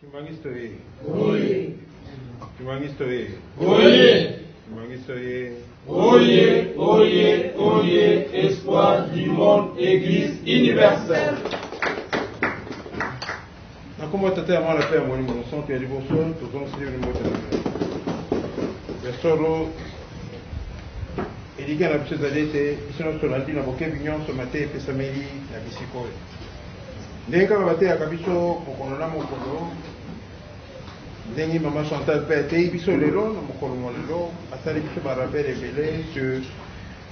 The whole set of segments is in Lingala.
Kimbanguiste oye! Oye! Kimbanguiste oye! Oye! Kimbanguiste oye! Oye! Oye! Oye! Espoir du monde, Église universelle. Na kombo ya Tata ya Mwana mpe ya Molimo Mosantu ya liboso tozongiseli bino mbote na bino. Ya solo, elikya na biso ezali ete biso nyonso tolandi na bokebi nyonso mateya epesameli na bisika oyo. Ndenge kaka bateyaka biso mokolo na mokolo, ndenge mama Chantal mpe ateyi biso lelo na mokolo mwa lelo, asali biso ba rappel ebele sur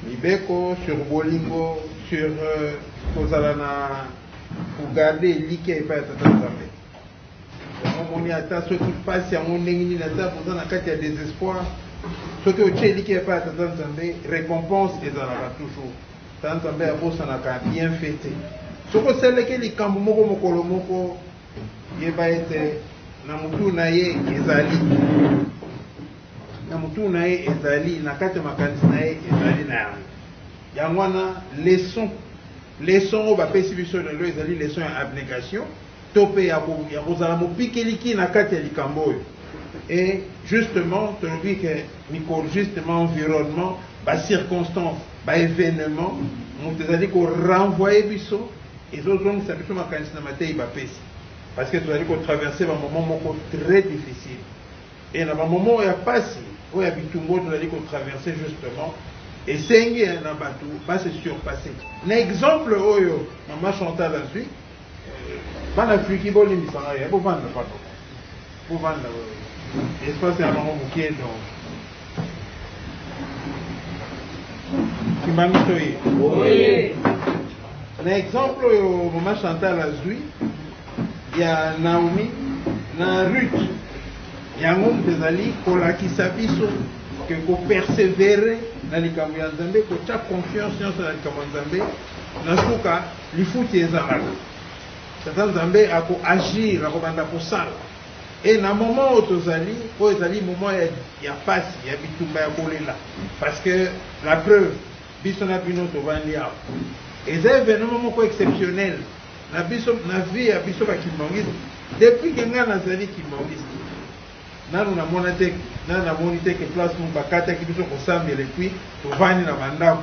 mibeko, sur bolingo, sur euh, kozala na kogarde elikya epai ya Tata Nzambe. Yango omoni ata soki mpasi yango ndenge nini, ata boza na kati ya desespoir, soki otye elikya epai ya Tata Nzambe, recompense ezalaka toujours. Ta Nzambe abosanaka bienfait te. Soki osalelaki ye likambo moko mokolo moko, yeba ete na motu na ye ezali na motu na ye ezali na kati ya makanisi na ye ezali na yango. Yango wana leson leson oyo bapesi biso lelo ezali leson ya abnegation. to pe ya ko ya kozala mopikeliki na kati ya likambo oyo et justement tolobi ke mikolo justement environnement ba circonstances ba evenement moto ezali ko renvoyer biso ezozongisa biso makanisi na mateyi bapesi parce que tozali ko traverser ba moment moko très difficile et na ba moment oyo ya pasi oyo ya bitumba oyo tozali ko traverser justement esengi na bato ba se surpasser na exemple oyo mama Chantal azui Bana Afriki bo limbisa ngai ya bo vanda papa. Bo vanda espace ya bango mokie donc. Kimbangu toye. Oye. Na exemple oyo mama Chantal azui ya Naomi na Ruth yango moto ezali kolakisa biso ke kopersevere na likambo ya Nzambe kotya confiance nyonso na likambo ya Nzambe na suka Lifuti ezalaka. Tata Nzambe ako agir, akobanda kosala. Et na moment oyo tozali, oyo ezali moment ya, ya pasi, ya bitumba, ya kolela. Parce que, la preuve, biso na bino tovandi awa. Eza evenement moko exceptionnel na biso, na vie ya biso ba kimbanguiste. Depuis que ngai nazali kimbanguiste, nanu namona te, nanu namoni te que place moko bakataki biso kosambela et puis tovandi na ba ndako.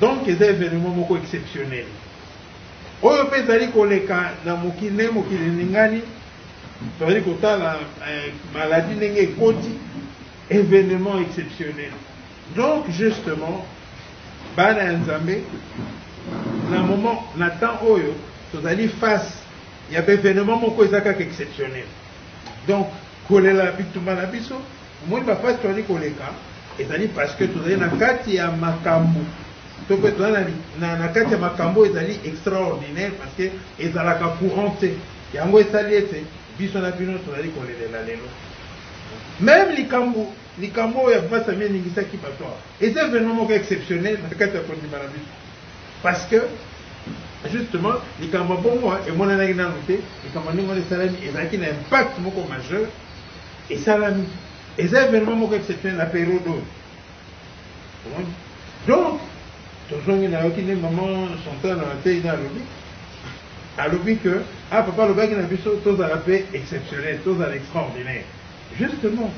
Donc eza evenement moko exceptionnel oyo mpe ezali koleka na mokili ndenge mokili eningani tozali kotala eh, maladie ndenge ekoti événement exceptionnel donc justement bana ya nzambe na moment na temps oyo tozali face ya baévénement moko eza kaka exceptionnel donc kolela bitumba na biso Omoni ba pasi tozali koleka, ezali parce que tozali na kati ya makambu to pe tozali na na kati ya makambu oyo ezali extraordinaire parce que ezalaka courant te. Yango esali ete biso na bino tozali kolelela lelo. Meme likambu likambu oyo ya Bvasami eningisaki batu awa, eza evenement moko exceptionnel na kati ya kondima na biso parce que justement likambu ya bongo emonanaki nanu te, likambu ya ndenge wana esalami ezalaki na impact moko majeur. Esalami. Eza evenement moko exceptionnel na periode oyo. Omoni? Donc, tozongi na yoki nde maman Chantal na mateyi na alobi. Alobi que, ah papa alobaki na biso tozala pe exceptionnel, tozala extraordinaire. Justement,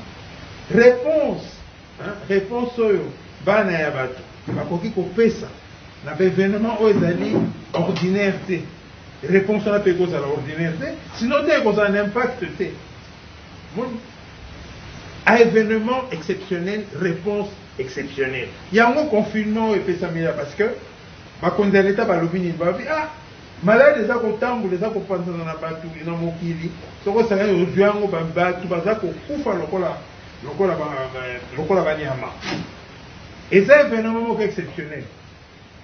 reponse, hein, reponse oyo bana ya batu bakoki kopesa na ba evenement oyo ezali ordinaire te, reponse wana pe ekozala ordinaire te, sinon te ekozala na impact te. Omoni? A evenement exceptionnel, reponse exceptionnelle. Yango confinement oyo epesameli ya parce que bakonzi ya leta balobi nini? Balobi ah malade eza kotambola eza kopanzana na bato na mokili, soki osangani ozwi yango, ba- bato baza kokufa lokola lokola ba- ba- lokola banyama. Eza evenement moko exceptionnel.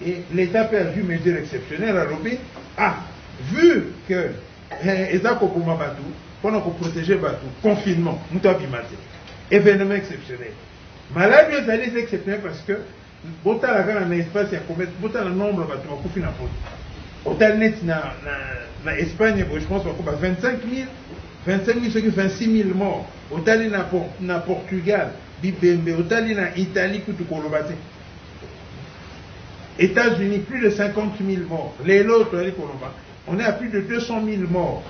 Et l'Etat pe azui mesure exceptionnelle alobi ah vu que eh, eza koboma batu pona ko proteger batu confinement mutu abima te evenement exceptionnel maladi ezali eza exceptionnel parce que botala kaka na espace ya commerce botala nombre batu bakufi na poto otali neti na, na, na espagne boye je pense bakoba 25 000 25 000 soki 26 000 mort otali na, na portugal bibembe otali na italie kutu koloba te Etats Unis plus de 50000 morts lelo toyali koloba on est à plus de 200000 morts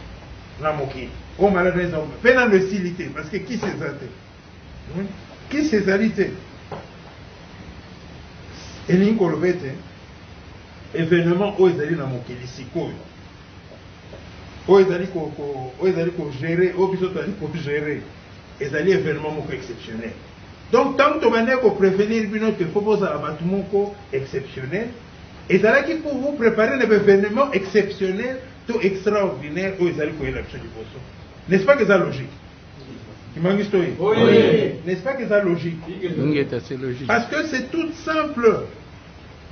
na mokili oyo maladi eza mpe nano esili te parce que kisi eza te hmm? kisi ezali te elingi koloba ete événement oyo ezali na mokili sikoyo oyo ezali oyo ezali kogere oyo biso tozali kogere ezali événement moko exceptionnel Donc tangu tobandaki ko prevenir bino que faut bozala batu moko exceptionnel, ezalaki pour vous preparer na ba evenements exceptionnels to extraordinaires oyo ezali koyela biso liboso. N'est-ce pas que eza logique? Kimbanguiste oye! N'est-ce pas que eza logique? Ingeta, c'est logique. Parce que c'est tout simple.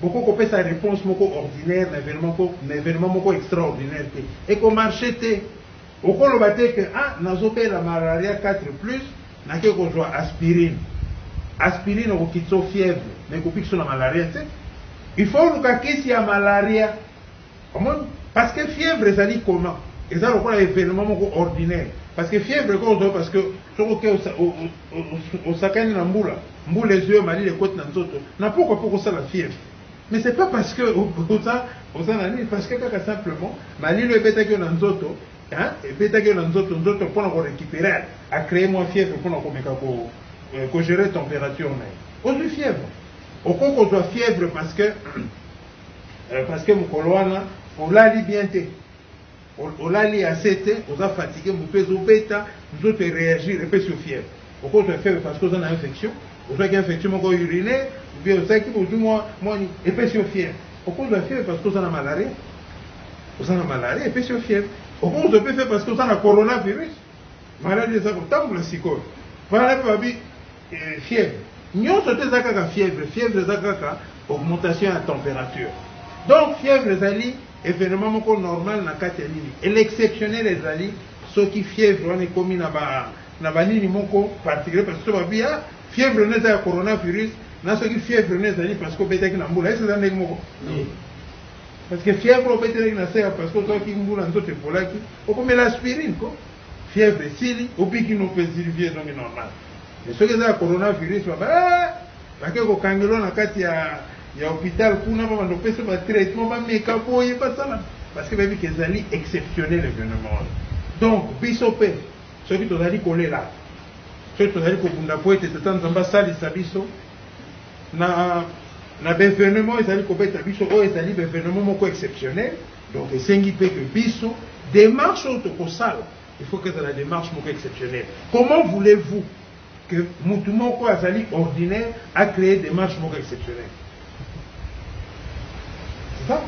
Boko kopesa reponse moko ordinaire na evenement moko extraordinaire te. Eko marcher te. Okoloba te que ah nazo bela malaria 4 plus nake kozua aspirine. Aspirine ekokitiso fièvre mais ekobikiso na malaria te. Il faut oluka kisi ya malaria. Omoni? Parce que fièvre ezali koma. Eza lokola evenement moko ordinaire. Parce que fièvre ekoki kozua yo parce que soki oke osakani na mbula, mbula ezui yo malili ekoti na nzoto, na pokwa pe okosala fièvre. Mais c'est pas parce que oza oza na nini parce que kaka simplement malilo ebetaki yo na nzoto hein ebetaki yo na nzoto nzoto pona ko récupérer a créer moi fièvre pona ko meka ko euh, ko gérer température na ye ozwi fièvre okoki kozwa fièvre parce que euh, parce que mokolo wana olali bien te Olali ya se te oza fatigue mutu ezo beta nzoto e reagir epesi yo fièvre okoki kozwa fièvre parce que oza na infection ozwaki infection moko urinaire ou bien ozaki ozwi mwa mwa epesi yo fièvre okoki kozwa fièvre parce que oza na malaria oza na malaria epesi yo fièvre okoki kozwa mpe fièvre parce que oza na coronavirus maladi eza kotambola sikoyo wana mpe babi Ee, fièvre nyonso te eza kaka fièvre. Fièvre eza kaka augmentation ya temperature. Donc, fièvre ezali evenement moko normal na kati ya nini. Et l'exceptionnel ezali soki fièvre wana ekomi na ba na ba nini moko particulier parce que babi ah fièvre no eza ya coronavirus na soki fièvre no ezali parce que obetaki na mbula esi eza ndenge moko parce que fièvre obetelaki na se parce que ozwaki mbula nzoto epolaki okomela aspirine ko fièvre esili obiki no mpe ezili vie ezongi normal mais soki eza ya coronavirus baba eh, bake kokangelo na kati ya ya hôpital kuna babanda kopesa ba traitement bameka boye basala parce que bayebi ke ezali exceptionnel événement wana donc biso mpe soki tozali kolela soki tozali kobunda mpo ete tata nzambe asalisa biso na na baevenement ezali kobeta biso oyo ezali baevenement moko exceptionnel donc esengi mpe ke biso démarche oyo tokosala Il faut que ezala demarche moko exceptionnelle. Comment voulez-vous que mutu moko azali ordinaire a créer demarche moko exceptionnelle? C'est ça?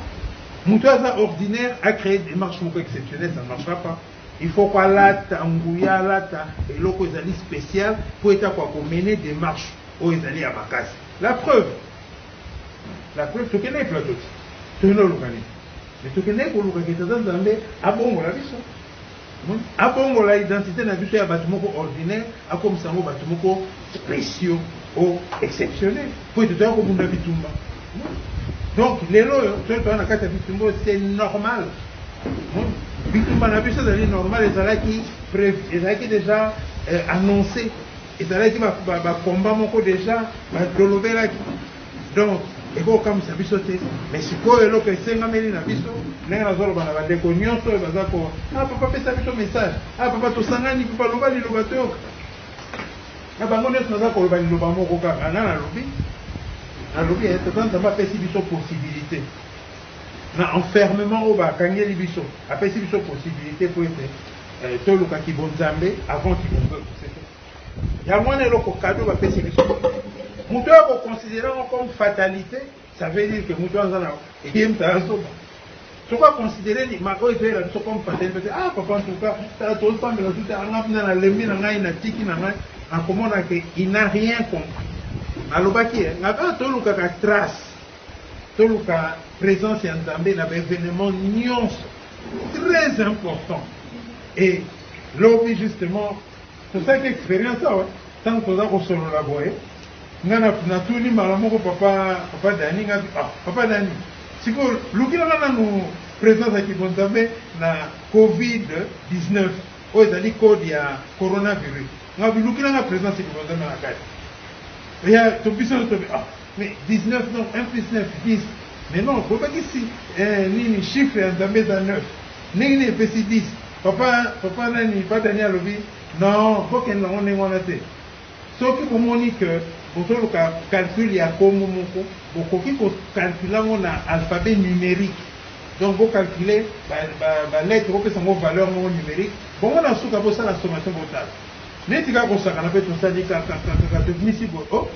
Mutu aza ordinaire a créer demarche moko exceptionnelle, ça ne marchera pas. Il faut qu'on alata nguya alata eloko ezali spécial pour être quoi qu'on mener démarche au ezali à makasi. La preuve. La preuve tokende plateau. Tokende lokani. Mais tokendeki koluka que tata Nzambe abongola biso. Omoni? Abongola identite na biso ya batu moko ordinaire, akomisa yango batu moko speciaux ou exceptionnels. Po ete toya kobunda bitumba. Omoni? Donc, lelo oyo, toli toza na kati ya bitumba oyo, c'est normal. Omoni? Bitumba na biso ezali normal, ezalaki prevu, ezalaki dejà annonce. Ezalaki ba combats moko dejà balobelaki. Donc eko kamwisa biso te mais sikoyo eloko esengameli na biso ndenge nazo loba na ba ndeko nionso oyo baza ko ah papa pesa biso message ah papa tosangani papa loba liloba toyoka na bango nionso naza koloba liloba moko kaka nga nalobi nalobi eh, tata nzambe apesi biso possibilité na enfermement oyo bakangeli biso apesi biso possibilité po ete eh, toluka kibonzambe avant kibonzambe yango wana eloko cadeau bapesi biso moto oyo akoconsidere yango comme fatalité ça veut dire que moto aza na ye moto aza zoba soki aconsidere oyo ezoyela biso comme fatalité te ah papa ntuka tala tozopambela tu te anga mpena nalembi na ngai natiki na ngai akomona ke il n'a rien compris nalobaki ye nga kaka tolukaka trace toluka présence ya nzambe na baévénement nyonso très important et lobi justement Tosalaki experience awa tango toza kosolola boye nga natuni mbala moko papa papa Dani nga ah papa Dani sikoyo lukelaka nanu presence ya kibonzambe na covid 19 oyo ezali code ya coronavirus nga bilukela nga presence ya kibonzambe na kati ya to biso nyo tobi ah mais 19 non 1 plus 9 10 mais non bobakisi eh, nini chiffre ya nzambe eza 9 ndenge nini epesi 10 Papa papa nani ba Daniel alobi non bokende nango ndenge wana te soki bomoni que bozoluka calcul ya kombo moko bokoki ko calcula ngo na alphabet numerique donc bo calcule ba ba lettre bopesa ngo valeur moko numerique bongo na suka bosala sommation botala neti kaka kosakana pe tosali kakakakaka tobimisi boye oh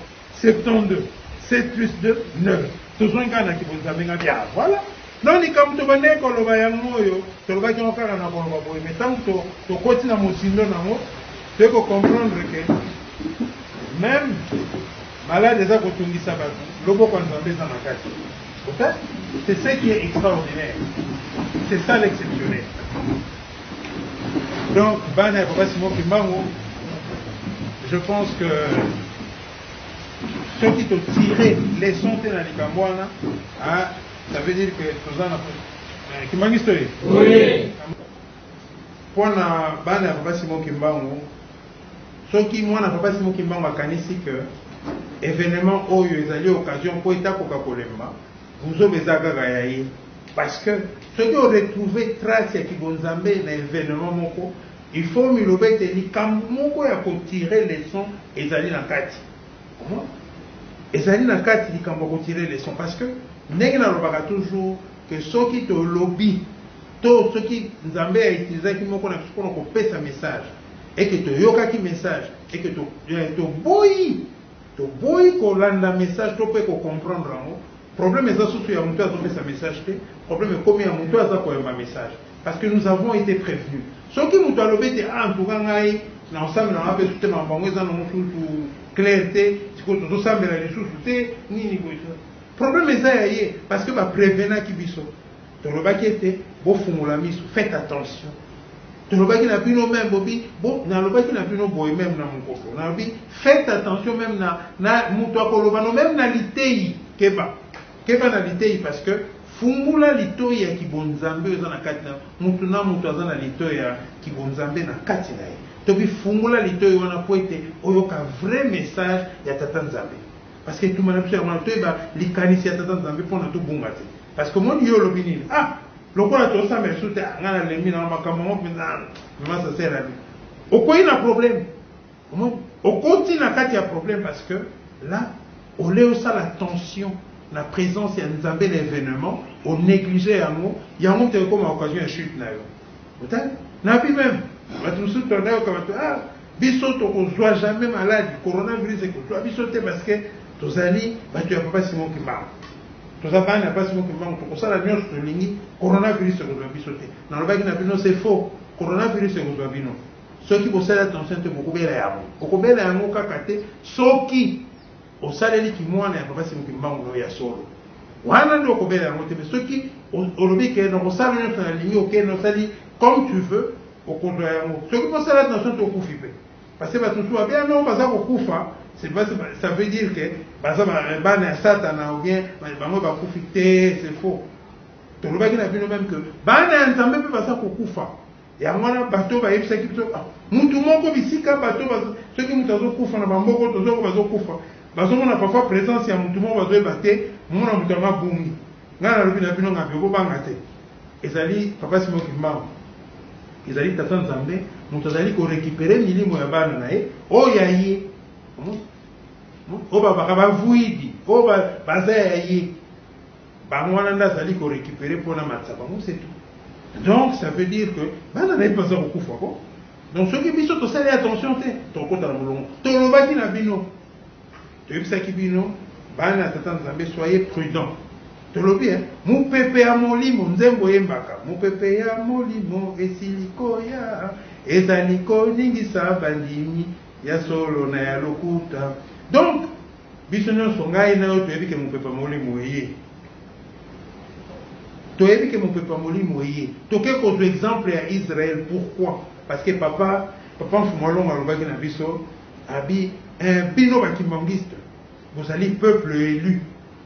72 7 plus 2 9 tozongi kaka na kibonzambe nga bia voilà donc likambo tobandaki koloba yango oyo tolobaki yango kaka na koloba boye mai ntango tokoti na mozindo na yango toyei kocomprendre ke meme malade eza kotungisa bato loboko ya nzambe eza na kati c'est ce qui est extraordinaire c'est ça l'exceptionnel Donc, bana ya papa Simon Kimbangu, je pense que ceux qui t'ont tiré leçon te na likambo wana, hein, ça veut dire que toza na euh, Kimbangu story. Oui. Mpo na bana ya papa Simon Kimbangu, soki mwana papa Simon Kimbangu akanisi que événement oyo ezali occasion mpo etakoka kolemba Buzoba eza kaka ya ye parce que soki o retrouver trace ya kibonzambe na evenement moko il faut miloba ete likambo moko ya ko tirer leçon ezali na kati omona ezali na kati likambo ya ko tirer leçon parce que ndenge nalobaka toujours que soki tolobi to soki nzambe ya utilisaki moko na biso mpona kopesa message eke toyokaki message eke toboyi to Toboyi ko landa message to pe ko comprendre yango, problème eza susu ya mutu azo pesa message te, problème ekomi ya mutu aza ko yamba message parce que nous avons ete prevenu. Soki mutu alobi ete ah en tout cas ngai nao sambela nanga pesu te makambo yango eza nango susu claire te, sikoyo tozo sambela lisusu te nini boye, problème eza ya ye parce que ba prevenaki biso. Tolobaki ete, Bofungola miso, faites attention. Tolobaki na bino meme, bobi, bo, nalobaki na bino boye meme na mokolo. Nalobi, faites attention meme na, na moto akoloba no, meme na liteyi, keba. Keba na liteyi parce que fungola litoyi ya kibonzambe oyo eza na kati na moto na moto aza na litoyi ya kibonzambe na kati na ye. Tobi fungola litoyi wana mpo ete oyoka vrai message ya Tata Nzambe. Parce que etumba na biso yango wana toyeba likanisi ya Tata Nzambe mpo na tobunga te. Parce que omoni yo olobi nini? Ah, lokola tosambela lisusu te, ah, ngai nalembi na makambo yango mpenza, mama sasela na bino. Okwei na problème. Omoni? Okoti na kati ya problème parce que là, olei osala attention na presence ya Nzambe na evenement, o negliger yango, yango moto ekoma occasion ya chute na yo. Otali? Na bi meme bato mosusu to nayoka bato ah biso tokozwa jamais maladi coronavirus ekozwa biso te parce que tozali bato ya papa Simon Kimbangu toza bana ya papa Simon Kimbangu tokosala nyonso tolingi coronavirus ekozwa biso te nalobaki na bino c'est faux coronavirus ekozwa bino soki bosali attention te bokobela yango okobela yango kaka te soki Osaleli ki mwana ya papa Simon kimbangu nayo ya solo wana nde okobela yango te mais soki olobi ke nakosala nyonso nalingi oke nosali comme tu veux okozwa yango soki mosala na soki okufi pe parce que bato mosusu babela nao baza kokufa c'est pas ça veut dire que baza bana ya satana ou bien bango bakufi te c'est faux tolobaki na bino meme que bana ya nzambe mpe baza kokufa Yango wana bato bayebisaki biso ah, mutu moko bisika bato soki mutu azokufa na bamboko tozoko bazokufa bazomona parfois presence ya mutu moko bazoyeba te momona mutu yango abungi ngai nalobi na bino ngabe kobanga te ezali papa simo kimbangu ezali tata nzambe moto azali korekipere milimo ya bana na ye oyo ya ye oyo babaka bavuidi oyo baza ya ye Bango wana nde azali ko recuperer mpo namatisa bango c'est tout. Donc ça veut dire que bana na ye mpe baza kokufa ko. Donc soki biso tosali attention te tokokota na molongo. Tolobaki na bino, toyebisaki bino bana ya Tata Nzambe soyez prudents. Tolobi eh, mopepe ya molimo nzembo eyembaka mopepe ya molimo esili koya ezali koningisa bandimi ya solo na ya lokuta donc Biso nyonso, ngai na yo, toyebi ke mopepe ya Molimo eye. Toyebi ke mopepe ya Molimo eye. Toke kozwa exemple ya Israël. Pourquoi? Parce que papa, papa Mfumu Alonga alobaki na biso, abi, eh, bino ba kimbanguiste, bozali peuple elu.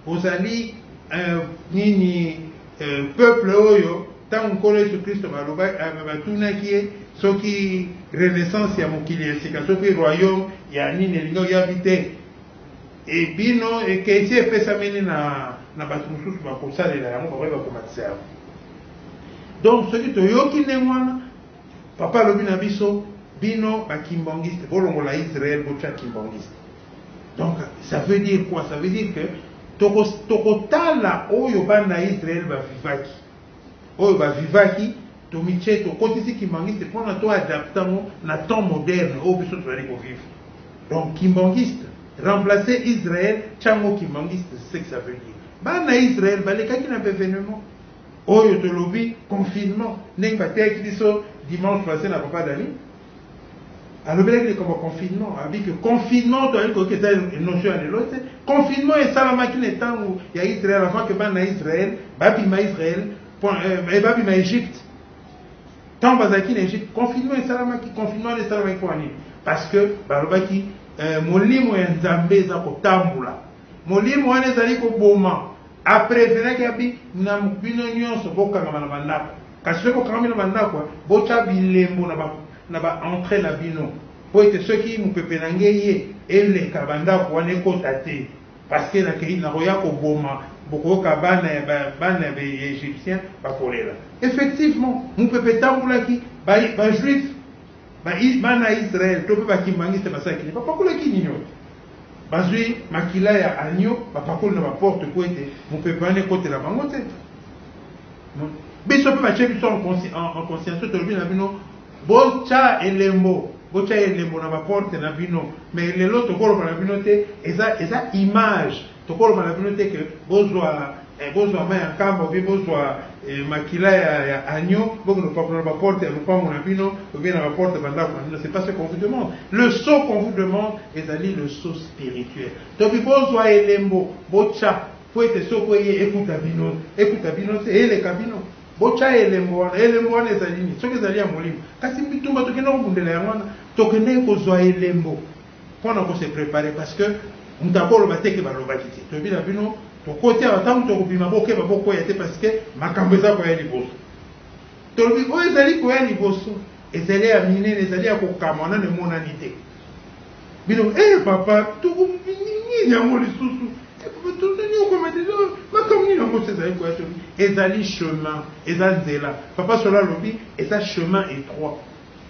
Bozali, eh, nini, eh, peuple oyo, Ntango Nkolo Yesu Klisto baloba, eh, batunaki ye soki renaissance ya mokili ya sika, soki royaume ya nini elingi oyabi te, ebino ekesi epesameli na na bato mosusu bakosalela yango, bakoki bakomatisa yango. Donc soki toyoki ndenge wana, papa alobi na biso, bino bakimbongiste bolongola Israël botya kimbongiste. Donc ça veut dire quoi? Ça veut dire que tokotala oyo bana Israël bavivaki oyo ba vivaki tomitie tokotisi kimbanguiste mpona to adapte yango na temps moderne oyo biso tozali ko vivre donc kimbanguiste remplacer Israël tia yango kimbanguiste c'est ce que ça veut dire bana Israël balekaki na bevenement oyo tolobi confinement ndenge bateyaki biso dimanche passe na papa Dani alobelaki likambo ya confinement abi ke confinement toyali koyoka eza notion ya lelo te confinement esalamaki na ntango ya israel avant ke bana ya israel babima israel euh, babima egypte ntango bazalaki na egypte confinement esalamaki confinement wana esalamaki mpo ya nini parce que balobaki euh, molimo ya nzambe eza kotambola Molimo wana ezali koboma. A preferaki abi, na bino nionso bokangama na ba ndako. Kasi soki bokangami na ba ndako, botia bilembo na ba na ba entrees na bino. Po ete soki mupepe na nge eye, eleka ba ndako wana ekota te. Parce que nakei, nakoya koboma, bokoyoka bana ya ba bana ya ba Egyptiens bakolela. Effectivement, mupepe etambolaki, ba ba juifs, ba bana ya Israël to pe ba kimbanguistes basalaki nini? Bapakolaki nini oyo? Bazwi makila ya agneau, bapakoli na baporte mpo ete mopepe wana ekotela bango te. Biso mpe batye biso en conscience, tolobi na bino botya elembo, botya elembo na baporte na bino, mais lelo tokoloba na bino te, eza image. Tokoloba na bino te ke bozwa eh, bozwa mai ya nkamba obie bozwa eh, makila ya, ya agneau bokende kopakola na baporte ya lopango na bino obie na baporte ya bandako na bino c'est pas ce qu'on vous demande le saut qu'on vous demande ezali le saut spirituel tobi bozwa elembo botya mpo ete soko eye ekuta bino ekuta bino te eleka bino botya elembo wana elembo wana ezali nini soki ezali ya molimo kasi bitumba tokendaki kobundela yango wana tokendaki kozwa elembo pona ko se preparer parce que mutu ako loba te ke ba lobaki te toyebi na bino tokoti awa tangu toko bima bo keba bo kweya te parce que makambu eza koya liboso tolobi oyo ezali koya liboso ezali ya minene ezali ya kokamwa nanu emonani te bino eh papa toko nini yango lisusu tozali okoma deja makambo nini yango ezali koya to ezali chemin eza nzela papa solo alobi eza chemin étroit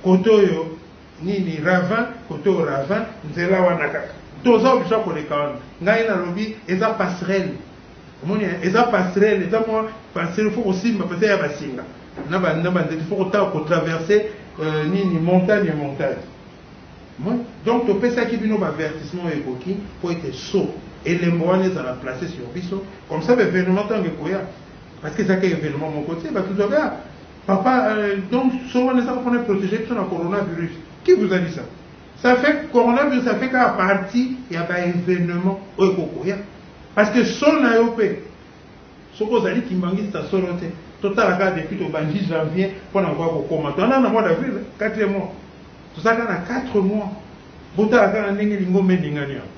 kote oyo Nini ravin koto ravin nzela wana kaka toza oblige ya koleka wana ngai nalobi eza passerelle omoni eza passerelle eza mwa passerelle fo kosimba pesa ya basinga na ba na banzete fo kotaka kotraverse euh, nini montagne montagne omoni donc topesaki bino baavertissement oyo ekoki mpo ete so elembo wana ezala place sur biso comme ça baevenement ntango ekoya parce que ezaka evenement moko te bato zobea Papa euh, donc son wana eza pona protéger biso na coronavirus qui vous a dit ça ça fait coronavirus ça fait kaka partie ya ba événement oyo ekokoya parce que son na yo mpe soki ozali kimbangista solo te totala kaka depuis tobandi janvier mpo na koya kokoma toana na mois d'avril 4 mois tozalaka na 4 mois botala kaka ndenge lingomba eningani yango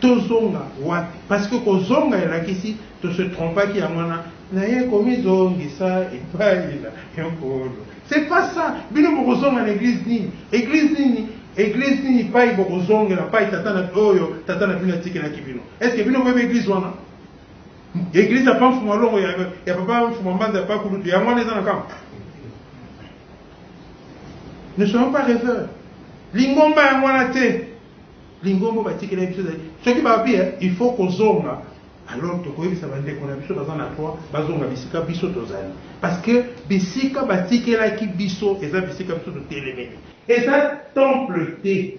Tozonga wapi? Parce que kozonga elakisi to se trompaki yango wana naye komizongisa epayi na Nkolo. C'est pas ça! Bino bokozonga na eglise nini? Eglise nini? Eglise nini epayi bokozongela? Epayi tata na oyo tata na bino atikelaki bino? Est ce que bino boyebi eglise wana? Eglise ya Pa Mfuma Longo, ya ya Papa Mfuma Mbanza, ya Pa Kulutu, yango wana eza na Kamp? Ne soyons pas reveurs. Lingomba yango wana te. Lingomba batikela biso ezali soki balobi il faut kozonga alors tokoyebisa bandeko na biso baza na droit bazonga bisika biso tozali parce que bisika batikelaki biso eza bisika biso totelemeli eza temple te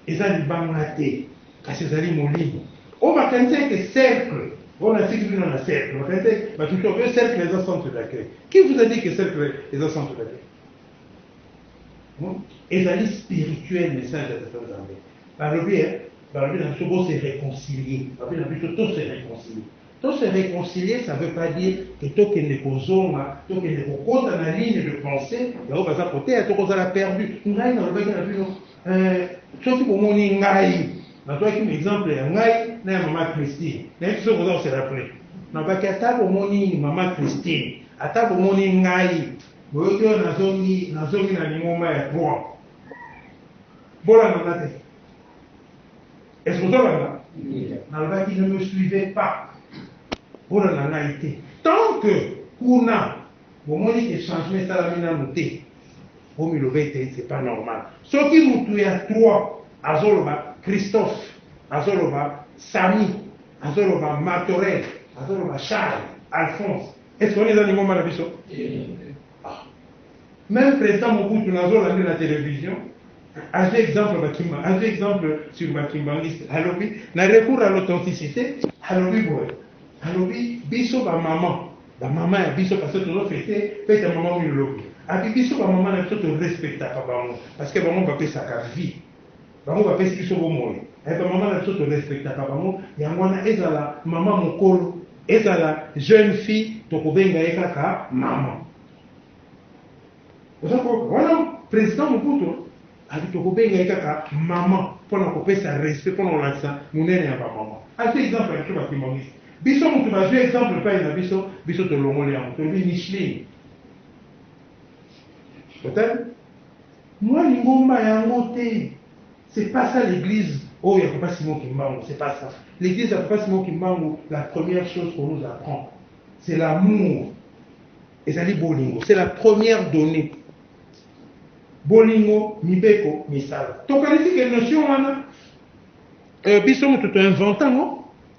eza libanga te kasi ezali molimo oyo makanisa ete cercle oyo natiki bino na cercle makanisa batuki oyo cercle eza centre d'accueil qui vous a dit que cercle eza centre d'accueil Ezali spirituel message ya tata nzambe balobi eh balobi na biso bo se reconcilie balobi na biso to se reconcilie to se reconcilie ça veut pas dire que tokende kozonga tokende kokota na ligne de pensee yaoyo baza koteya tokozala perdu ngai nalobaki na bino eh, soki bomoni ngai nazwaki na exemple ya ngai na ya mama christine nayebi soki oza koselaple nabaki ata bomoni mama christine ata bomoni ngai Boyoki oyo nazongi nazongi na lingomba ya droit. Bolanda nga te. Est-ce que tolanda? Nalobaki ne me suivez pas. Bolanda ngai te. Tant que kuna bomoni ke changement esalami nanu te. Bomiloba ete c'est pas normal. Soki mutu ya droit azoloba Christophe, azoloba Samy, azoloba Martorell, azoloba Charles, Alphonse, Est-ce que on eza lingomba na biso? Ah. Même président Mobutu nazo lande na télévision avec exemple Bakimba, avec exemple sur Bakimbanguiste, alobi na recours à l'authenticité, alobi boye, alobi biso ba maman, ba maman ya biso parce que tozo fete fete ya maman oyo lobi, abi biso ba maman na biso to respectaka bango parce que bango bapesaka vie Bango bapesi biso bomoi eh, ba mama na biso to respectaka bango, yango wana ezala mama mokolo, ezala jeune fille tokobenga ye kaka mama. Oza koyoka wana president Mobutu ati tokobenga ye kaka mama mpo na kopesa respect, mpo na kolakisa monene ya bamama. Ati exemple ya biso bakimonisi biso, motu bazwi exemple epai na biso, biso tolongoli yango tolobi Micheline otali Mua lingomba yango te c'est pas ça l'eglise oyo ya papa Simon kimbangu c'est pas ça l'eglise ya papa Simon kimbangu la première chose qu'on nous apprend c'est l'amour ezali bolingo c'est la première donnée bolingo mibeko misala tokanisi ke notion wana euh, biso moto to invente yango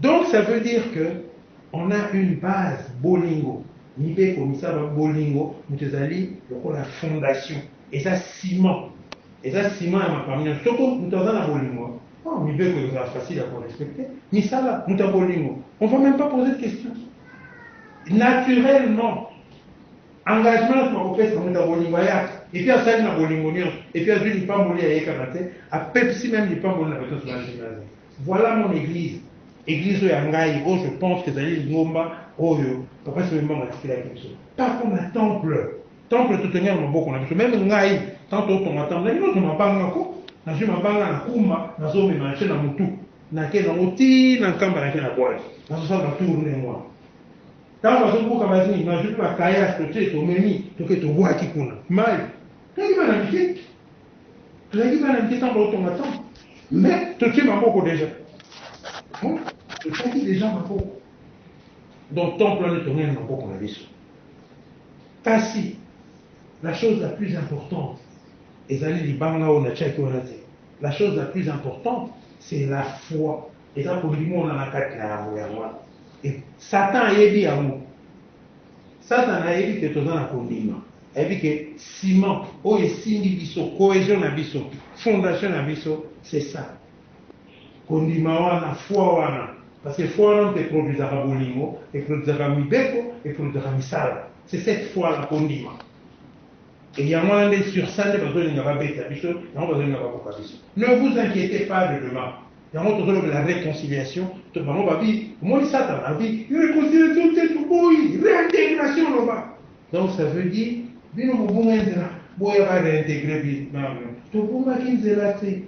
Donc ça veut dire que on a une base bolingo mibeko misaba bolingo moto ezali lokola fondation eza ciment eza ciment ya makambo nyonso soko moto aza na bolingo oh, mibeko ekozala facile ya korespecte misala moto ya bolingo on va même pas poser de question naturellement engagement nyonso bakopesa moto ya bolingo ayaka epuis asali na bolingo nyonso epuis azwi lipamboli ya ye kaka te apepsi meme lipamboli na bato nyonso bazwi Voilà mon eglise eglise oyo ya ngai oyo je pense que ezali lingomba oyo papa sebe mbanga atikelaki biso pas comme na temple temple totongi na maboko na biso meme ngai tanto otonga temple nalingi ozwa mabanga ko nazwi mabanga na kumba nazomema nce na motu nake nango ti na nkamba nake na bwale nazosala batour ne mwa ntango bazobuka bazini nazwi mpe bakayas totie tomemi toke tobwaki kuna mai toyima na mike Toyebi bana mike ntango baotonga temple mais totie maboko deja totiaki deja maboko donc temple wana etongeli na maboko na biso kasi la chose la plus importante ezali libanga oyo natiaki wana te la chose la plus importante c'est la foi eza kondima ona na kati na yango yango wana satan ayebi yango Satana ayebi que toza na kondima, ayebi que ciment oyo esimbi biso, cohesion na biso, fondation na biso c'est ça. Kondima wana, foi wana, parce que foi wana moto e produisaka bolingo, e produisaka mibeko, e produisaka misala. C'est cette foi là, kondima. Et yango wana nde sur ça nde bazolinga babeta biso, yango bazolinga babuka biso. Ne vous inquietez pas de demain. Yango tozo lobela reconciliation to bango ba bi omoni satana abi reconciliation te toboyi reintegration loba donc ça veut dire bino bobunga nzela boya ba reintegrer bino non non tobungaki nzela te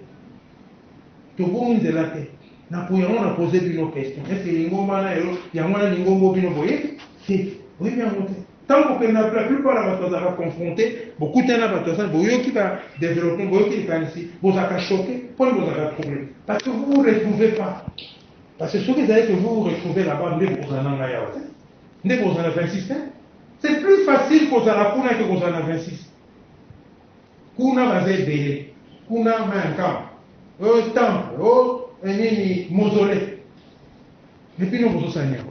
tobungi nzela te na po yango na poser bino question est ce que lingomba na yo yango na lingombo bino boye te oyebi yango te Tango bokende na la plupart ya bato bazalaka confronte, bokutani na bato ya sala, boyoki ba developpement, boyoki likanisi, bozalaka choque, mpo nini bozalaka trouble? Parce que vous vous retrouvez pas. Parce que soki ezali que vous vous retrouvez là-bas, nde bokozala na ngai awa te, nde bokozala na 26 te. C'est plus facile kozala kuna ke kozala na 26. Kuna baza ebele, kuna mayankama, oyo temple, oyo nini mausolée, epuis no bozosala nini yango?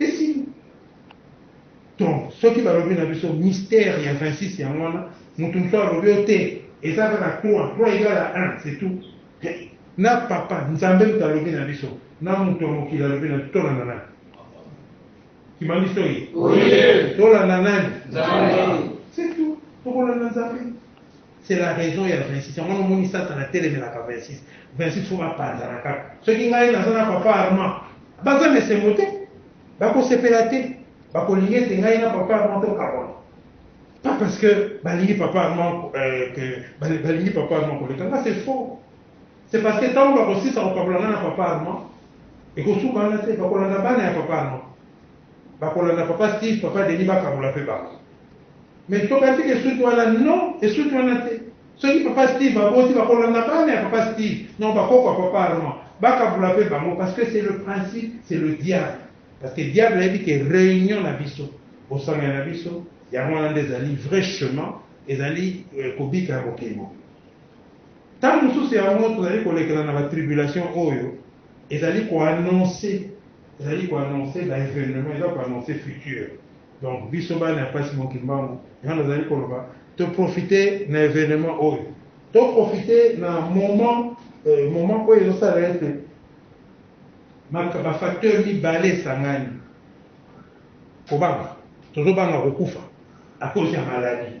Esili. Donc soki balobi na biso mystère ya 26 yango wana mutu mosusu alobi yo te eza kaka 3 3 egal à 1 c'est tout na papa nzambe moto alobi na biso na moto ya mokili alobi na biso tolanda nani kimani soyi tolanda nani c'est tout tokolanda nzambe C'est la raison ya 26 yango wana omoni satana atelemelaka 26 26 fo bapanzana kaka soki ngai naza na papa armand baza na esengo te bakosepela te bakolinga ete ngai na papa armand tokabona pas parce que balingi papa armand euh, que balingi papa armand koleka nga c'est faux c'est parce que ntango bakosisa kokabola ngai na papa armand ekosuka wana te bakolanda bana ya papa armand bakolanda papa steve papa denis bakabola mpe bango Mais tokatika esuki wana non esuki wana te soki papa Steve aboti bakolanda bana ya papa Steve non bakoko ya papa Armand bakabula pe bango parce que c'est le principe c'est le diable parce que diable ayebi ke reunion na biso bosangani na biso yango wana nde ezali vrai chemin ezali euh, kobika ya bokengo ntango mosusu yango tozali kolekela na batribulation oyo ezali koannonce Ezali ko annoncer ba evenements, eza ko annoncer futur. Donc biso bana ya Pasi Mon Kimbangu, yango nazali koloba to profiter na evenement oyo, to profiter na moment, moment oyo ezosala ete ba facteurs mibale esangani, kobanga, tozobanga kokufa à cause ya maladie.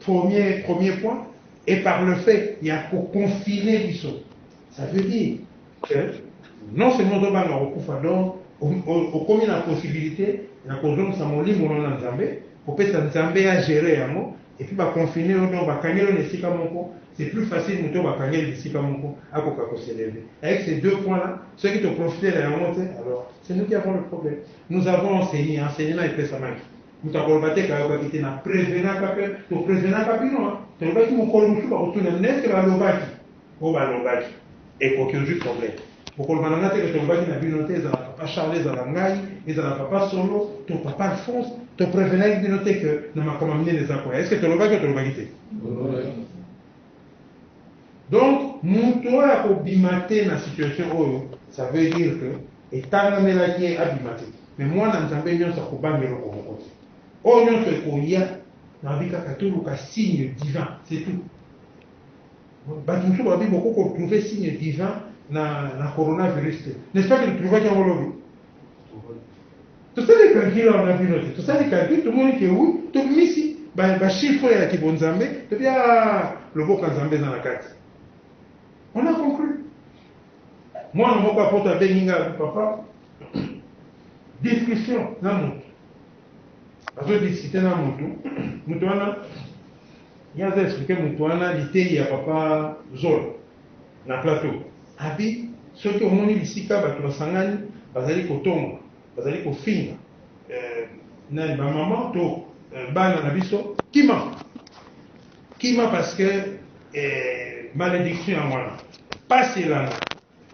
Premier premier point et par le fait ya ko confiner biso ça veut dire que non seulement ozo banga kokufa donc okomi na possibilite ya kozongisa molimo no na Nzambe kopesa Nzambe a gerer yango et puis ba confiner yo donc bakangeli yo na esika moko c'est plus facile moto oyo bakangeli bisika moko akoka ko s'elever avec ces deux points là soki to profiter na yango te alors c'est nous qui avons le problème nous avons enseigner enseignement epesamaki Moto akoloba te ete ayokaki te, na prevenaka mpe to prevenaka bino, tolobaki mokolo mosusu bakotuna bino est-ce que balobaki oyo balobaki, ekoki ozui problème, bokoloba na ngai te que tolobaki na bino te, ezala papa Charles, ezala ngai, ezala papa Solo, to papa Alphonse, to prevenaki bino te que na makambo ya minene eza koya, est-ce que tolobaki oyo tolobaki te? Tolobaki. Donc mutu oyo ako bima te na situation oyo ça veut dire que etangamelaki ye abima te mais muana nzambe nionso ako banga eloko moko te oyo nionso ekoya nalobi kaka toluka signe divin c'est tout batu mosusu balobi boko ko trouver signe divin na na coronavirus te n'est ce pas que trouvaki yango lobi Tosali calcul awa na bino te, tosali calcul tomoni que oui tobimisi ba, ba chiffres ya kibonzambe, tobi ah loboko ya Nzambe eza na kati. On a conclu. Mwana moko ya poto abengi ngai abi papa discussion na moto azo discuter na moto moto wana ye aza expliquer moto wana liteyi ya papa Zola Na plateau abi soki omoni bisika batu basangani bazali kotonga bazali kofinga nani ba maman to bana na biso kima kima parce que malediction ya wana pasi elanga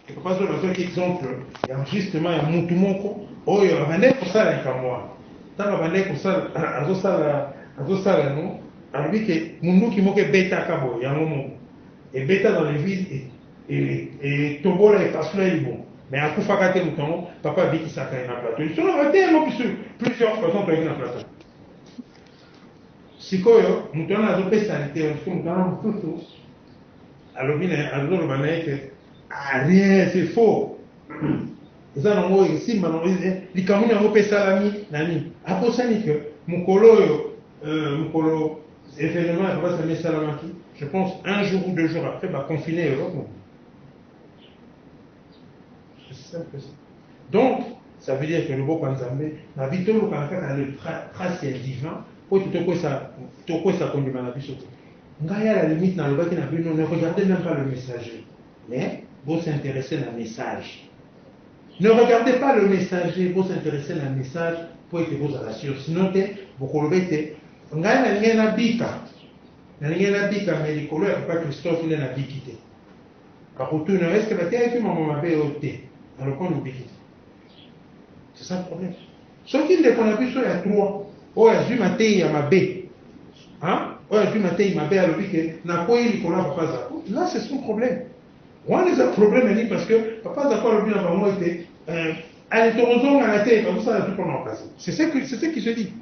et papa zola azwaki exemple ya justement ya mutu moko oyo abandaki kosala likambo wana ntango abandaki kosala azosala azosala yango alobi ke munduki moko ebetaka boye yango moko ebeta dans l'eglise etobola epasula ye libumu mais akufaka te moto yango papa abikisaka ye na plateau lisolaka te yango biso plusieurs fois ezontoyaki na plateau sikoyo moto wana azopesa liteyo mosusu moto wana mosusu alobi na azoloba na ye ke ah, rien c'est faux eza nango esimba nango likambo nini yango mpe esalami na nini abosani ke mokolo oyo Euh, mokolo événement ya papa sami esalamaki je pense un jour ou deux jours après baconfine europe mobile donc ça veut dire que loboko ya nzambe na bi tolukana kaka le trace ya divin mpo ete tokwesa kondima na biso te ngai à la limite nalobaki na bino ne regardez même pas le messager mais bos'interesse na message Ne regardez pas le messager, bo s'interesser na message mpo ete bozala sur, sinon te bokoloba ete ngai nalingaki nabika, nalingaki nabika mais likolo ya papa Christophe nde nabiki te. Bakotuna yo est ce que bateyaki maman mabe oyo? Te, alors mpona obiki te? C'est ça le problème. Soki ndeko na biso ya trois oyo azwi mateyi ya mabe, oyo azwi mateyi mabe alobi ke nakweyi likolo ya papa Zacle, là c'est son problème. Wana eza problème ya nini parce que papa zako alobi na bango ete eh, ale tokozongana te bazosala tout pona okasi c'est ce que c'est ce qui se dit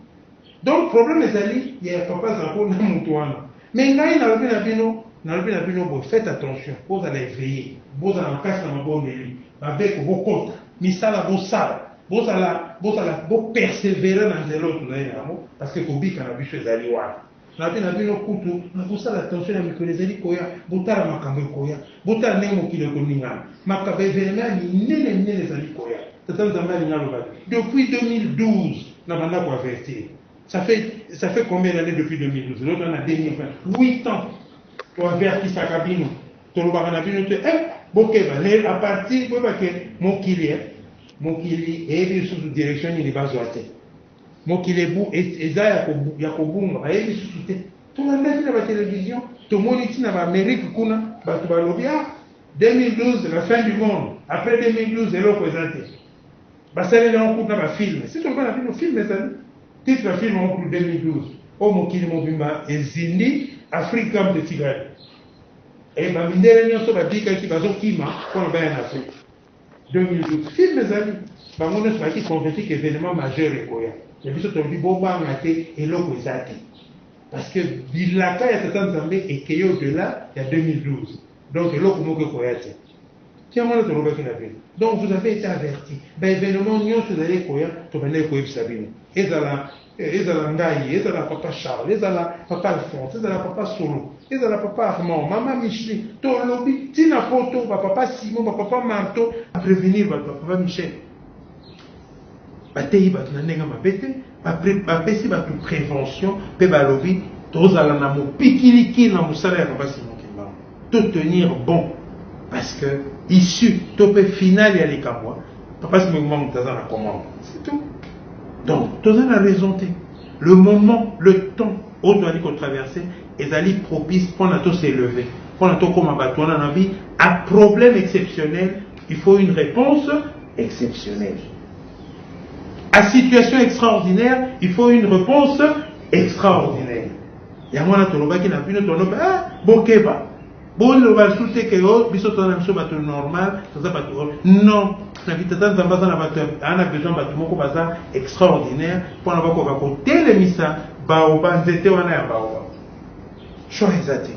donc problème ezali ya papa zako na moto wana mais ngai nalobi na bino nalobi na bino boye faites attention bozala eveille bozala makasi na mabondeli babeko bokota misala bosala bozala bozala bopersevere na nzela oyo tozali na yango parce que kobika na biso ezali wana Nalobi na bino, kutu bokosala attention na mikolo ezali koya, botala makambo ekoya, botala ndenge mokili ekoningana, makambo, ba evenements ya minene minene ezali koya. Tata Nzambe alingi aloba te. Depuis 2012 nabanda ko avertir, ça fait, ça fait combien d'annees depuis 2012? Lelo toza na 2020, huit ans to avertisaka bino, tolobaka na bino te, eh bokeba, mais à partir boyeba que mokili, eh mokili eyebi lisusu direction nini bazwa te. Mokili ebu, e, eza ya, ko, ya kobunga, bayebi lisusu te. Tolandaki na batelevizio, tomoni ti na baamerike kuna, bato balobi ah 2012 la fin du monde, après 2012 eloko eza te. Basaleli yango kutu na bafilme, si toloba na bino filme ezali titre ya filme yango kutu 2012 oyo mokili mobimba ezindi afrique kampe etikali e bamindele nyonso babikaki bazokima mpona baya na afrique 2012 film ezali bango nionso bayaki convaincu que evenement majeur ekoya mais biso tolobi bobanga te eloko eza te parce que bilaka ya tata nzambe ekei au delà ya 2012 donc eloko moko ekoya te tiango wana tolobaki na bino donc vous avez été averti ba evenement nionso ezali ekoya tobandaki koyebisa bino ezala Ezala ngai, ezala papa Charles, ezala papa Alphonse, ezala papa Solo, ezala papa Armand, mama Micheline, tolobi ti na poto ba papa Simon, ba papa Marto, ba prevenir bato ba papa Michel. Bateyi bato na ndenge mabe te, bapesi bato prevention mpe balobi tozala na mopikiliki na mosala ya papa Simon. to tenir bon parce que issue to mpe finale ya likambo papa sima ekoma moto aza na commande c'est tout donc toza na raison te le moment le temps oyo toyali kotraverse ezali propice mpo na toselever mpo na tokóma bato wana na bi a problème exceptionnel il faut une réponse exceptionnelle à situation extraordinaire il faut une réponse extraordinaire yango wana tolobaki na bino toloba eh, bokeba boloba lisusu te ke o oh, biso toza na biso bato normal toza bato oh, non na bitata nzambe aza na bato aa na besoin bato moko baza extraordinaire mpona bakoka kotelemisa baoba nzete wana ya baoba choix eza te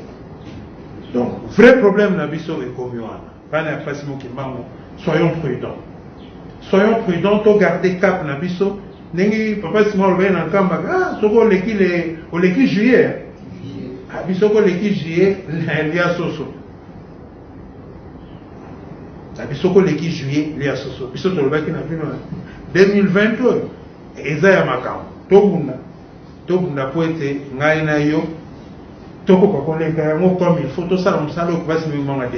donc vrai problème na biso ekomi wana Bana ya Pasi Mokimbangu, soyons prudents. Soyons prudents, to garder cap na biso. Ndenge Papa Simon alobaki na Nkamba, ah, soki oleki le, oleki juillet. Ah, biso ko leki juillet, lia soso. Na biso ko leki juillet, lia soso. Biso tolobaki na bino 2020 oyo eza ya makambo. Tobunda. Tobunda mpo ete ngai na yo tokoka koleka yango comme il faut tosala mosala oyo basi mimanga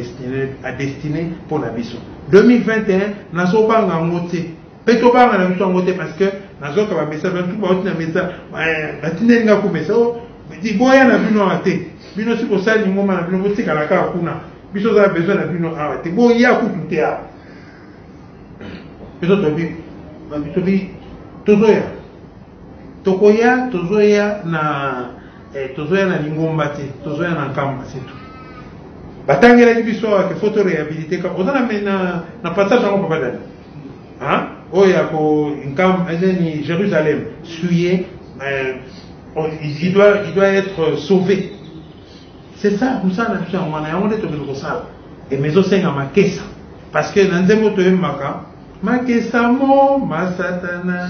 adestine mpo na biso 2021 nazobanga yango te mpe tobanga na biso yango te parce que nazoka bamessage bantu bauti na message eh, batindeli nga ku message oh, liboya na bino awa te bino si kosali lingoma na bino botikala kaka kuna biso ozala besoin na bino awa te boya kutu te awa biso tobi tozoya Tokoya tozoya na eh, tozoya na lingomba te, tozoya na nkamba c'est tout. Batangelaki biso awa ke faut to réhabiliter ka oza na na, na passage yango papa dani hein oyo ya ko nkamba ezeni eh, Jérusalem suye euh, oh, il doit il doit être sauvé c'est ça mosala na biso yango wana yango nde tokende kosala eme ezosenga makesa parce que na nzembo toyembaka makesa mo masatana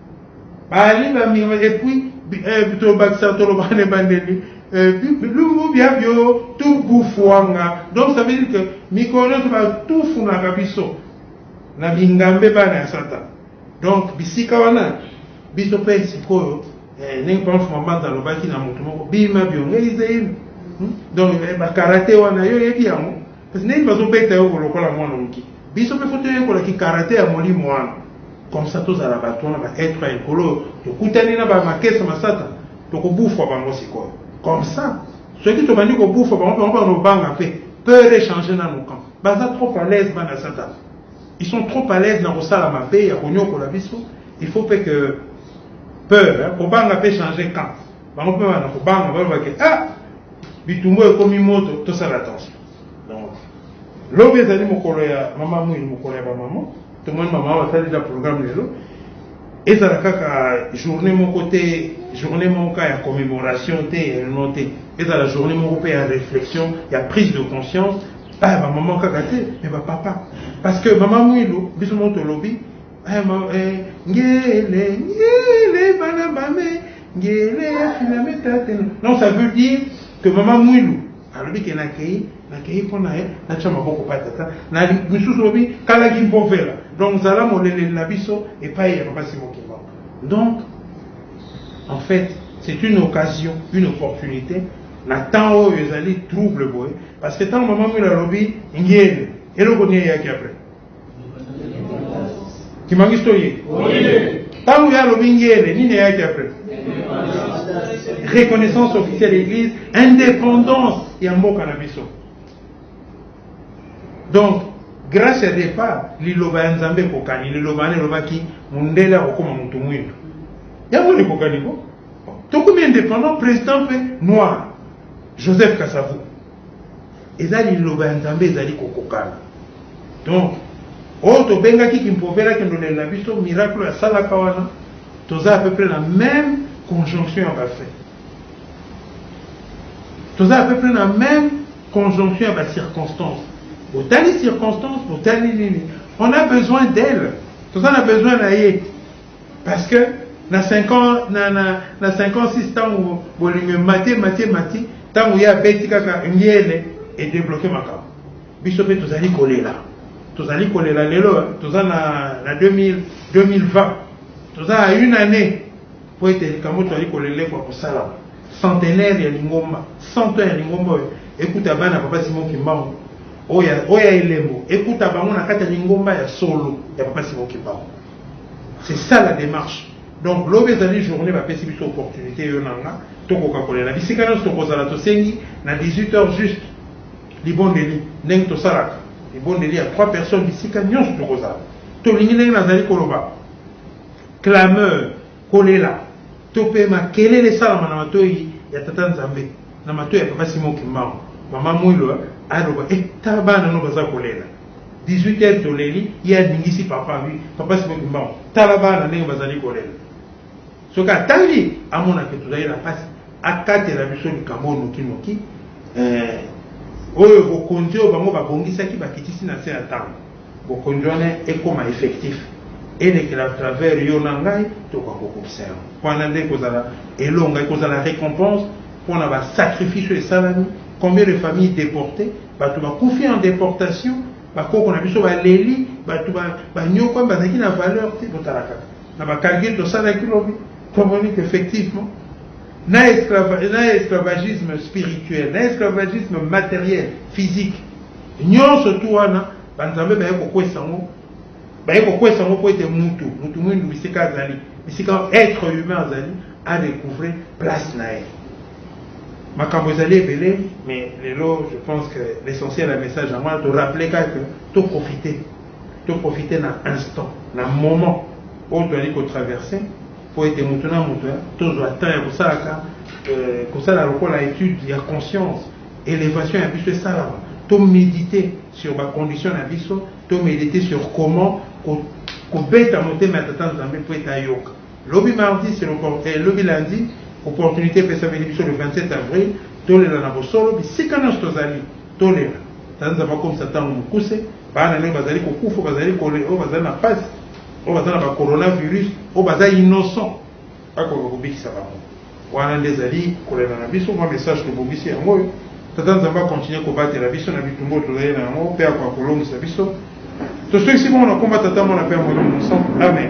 Bali ba miro et puis eh, to bakisa to loba ne bandeli eh, bilumbu bia bio tout bufuanga donc ça veut dire que mikolo to ba tout funaka biso na bingambe bana ya satan donc bisika wana biso mpe sikoyo eh, ndenge pamfu mabanda alobaki na moto moko bima biongeizeino hmm? donc eh, bakarate wana yo oyebi yango Kasi ndenge bazo beta yo lokola mwana muke. Biso pe faut toyekola ki karate ya molimo wana. Comme ça tozala batu wana ba etre ya likolo oyo tokutani na ba makesa masata tokobufwa bango sikoyo. Comme ça soki tobandi kobufwa bango bango banobanga pe peur e changer nanu camp. Baza trop à l'aise bana satana. Ils sont trop à l'aise na kosala mabe ya koniokola biso. Il faut pe que peur kobanga pe changer camp. bango mpe bana kobanga balobaki ah bitumbu ekomi moto tosala attention donc lobi ezali mokolo ya mama mwini mokolo ya bamama tomoni mama basali na programme lelo ezala kaka journée moko te journée moko kaka ya commémoration te ya elno te ezala journée moko mpe ya réflexion ya prise de conscience aya ah, bamama kaka te me bapapa parce que mama mwilu biso moko tolobi eh, eh, ngele ngele bana mame Ngele filame tate non ça veut dire que mama mwilu alobi ke nakei nakei mpo na ye natya maboko pa tata na misusu lobi kalaki mpo vela donc zala moleleli na biso epai ya mama simokimba donc en fait c'est une occasion une opportunité na temps oyo ezali trouble boye parce que ntango mama mwilu alobi ngele eloko nini eyaki après kimangisi to ye ntango ye alobi ngele nini eyaki apres reconnaissance officielle ya église indépendance ya mboka na biso donc grâce ya départ liloba ya nzambe ekokani liloba wana elobaki mondele akokoma motu mwindu yango likokani ko tokomi indépendant président mpe noir joseph kasavu eza liloba ya nzambe ezali kokokana donc oyo tobengaki kimprovera kendolele na biso miracle asalaka wana toza à peu près na même conjonction ya bafin toza à peu près na même conjonction ya bacirconstance botali circonstance botali nini on a besoin d'elle toza na besoin na ye Parce que na 5 ans na na na 5 ans 6 tango bolingo emati emati emati tango ye abeti kaka ngele e debloquer makambo biso pe tozali kolela tozali kolela lelo toza na na 2000 2020 toza na une année po ete likambo tozali kolele kwa kosalama centenaire ya lingomba 100 ans ya lingomba oyo ekuta bana papa Simon Kimbangu oyo ya elembo ekuta bango na kati ya lingomba ya solo ya papa Simon Kimbangu C'est ça la demarche. Donc lobi ezali journée bapesi biso opportunité yo na nga tokoka kolela bisika nyonso tokozala tosengi na 18 heures juste libondeli ndenge tosalaka libondeli ya trois personnes bisika nyonso tokozala tolingi ndenge nazali koloba clameur kolela to mpe makelele esalama na matoi ya tata nzambe na matoi ya papa simo kimbangu mama mwilo aloba etala eh, bana no baza kolela 18 heures toleli ye aningisi papa wi papa sikoyo kumbango tala bana ndenge bazali kolela soki atangi amonake tozali na mpasi akatela biso likambo oyo nokinoki eh, oyo bokonzi oyo bango babongisaki bakitisi na nse ya ntango bokonzi wana ekoma effectif elekela à travers yo na ngai tokoka kokokisa yango wana nde ekozala elonga ekozala récompense mpo na basacrifice oyo esalami combien de famille déportée Bato bakufi en deportation, ba koko na biso baleli, bato banyokwami bazalaki na valeur te. Botala kaka na ba calcul tosalaki lobi, tomoni que effectivement na esclavagisme spirituel, na esclavagisme materiel, physique, nyonso tu wana banzambe baye kokwesa yango baye kokwesa yango mpo ete mutu mutu mwindu bisika azali bisika être humain azali adecouvre place na ye Makambo ezali ebele mais lelo je pense que l'essentiel ya message yango wana to rappeler kaka que to profiter to profiter na instant na moment oyo toyali ko traverser mpo ete moto na moto tozwa temps ya kosalaka euh, kosala lokola étude ya conscience élévation ya biso esalama to méditer sur bacondition na biso to méditer sur comment kobeta motema ya tata nzambe mpo ete ayoka Lobi mardi c'est l'opport eh, lobi lundi opportunite epesameli biso le 27 avril tolela na bosolo bisika nyonso tozali tolela ta nzambe akomisa ntango mokuse bana nayo bazali kokufa bazali kole oyo bazali na pasi oyo baza na bacoronavirus oyo baza innocent akoka kobikisa bango Wana nde ezali kolela na biso. Mwa message tobongisi yango oyo. Tata Nzambe a continuer kobatela biso na bitumba oyo tozali na yango mpe akoka kolongisa biso. Toswekisi bongo na nkombo ya Tata, Mwana mpe ya Molimo Mosantu. Amen.